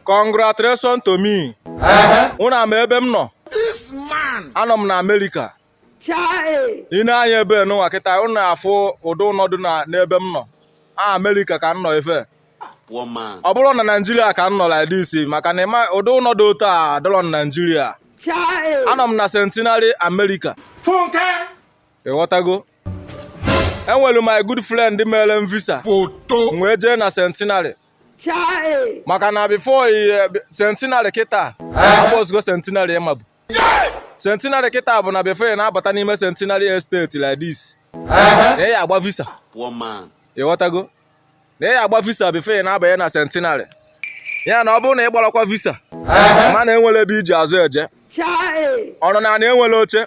congratulations to me ụnụ ama ebe m nọ anọ m na amerịka i nee anya ebe nụnwa kịta ụnụ na-afụ ụdị ụnọ dị na- n'ebe m nọ a amerịka ka m nọ efe One man. ọ bụrọ na naijiria ka m nọ like this maka na ịma ụdị ụnọ dị otu a adịrọ na naijiria anọ m na centenary america ịghọtago enwere my good friend mere m visa wee jee na centenary maka na before eh, centenary kịta abụzirọ centenary ị mabu centenary kịta bụ na before ị na-abata n'ime centenary estate like this na ị ya-agba visa ịghọtago na ị ya-agba visa before ị na-abanye na centenary ya na ọ bụrụ na ị gbarakwa visa mana enwere ebe i ji azụ eje ọrụ na na enwere oche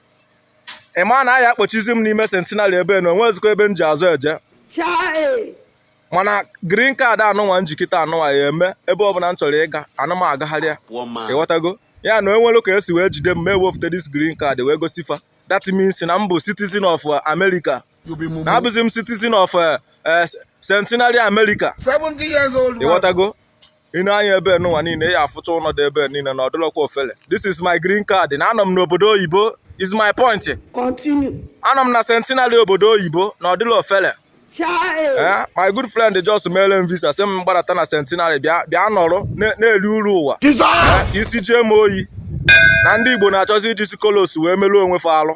ị ma na a ya-akpọchizi m n'ime centenary ebe na onwezikwa ebe m ji azụ eje Chai! mana green card a nụnwa m ji kịta a nụnwa ya-eme ebe ọbụla m chọrọ ịga ana m agagharị ya Poor man. ịghọtago ya na enwere ka esi wee jide m m ewepụta this green card wee gosi fa that means na m bụ citizen of America na abụzi m citizen of eh, eh, centenary america ịghọtago i nee anya ebe nụnwa niile ị ya-afụcha ụlọ dị ebe niile na ọ dịrọkwa ofele this is my green card na anọ m n'obodo oyibo is my point anọ m na centenary obodo oyibo na ọ dịrọ ofele eh, my good friend just mere m visa sị m gbadata na centenary bịa bịa nọrọ na-eri uru ụwa eh, isi jụọ m oyi na ndị igbo na-achọzi iji si colos wee meruo onwe fa arụ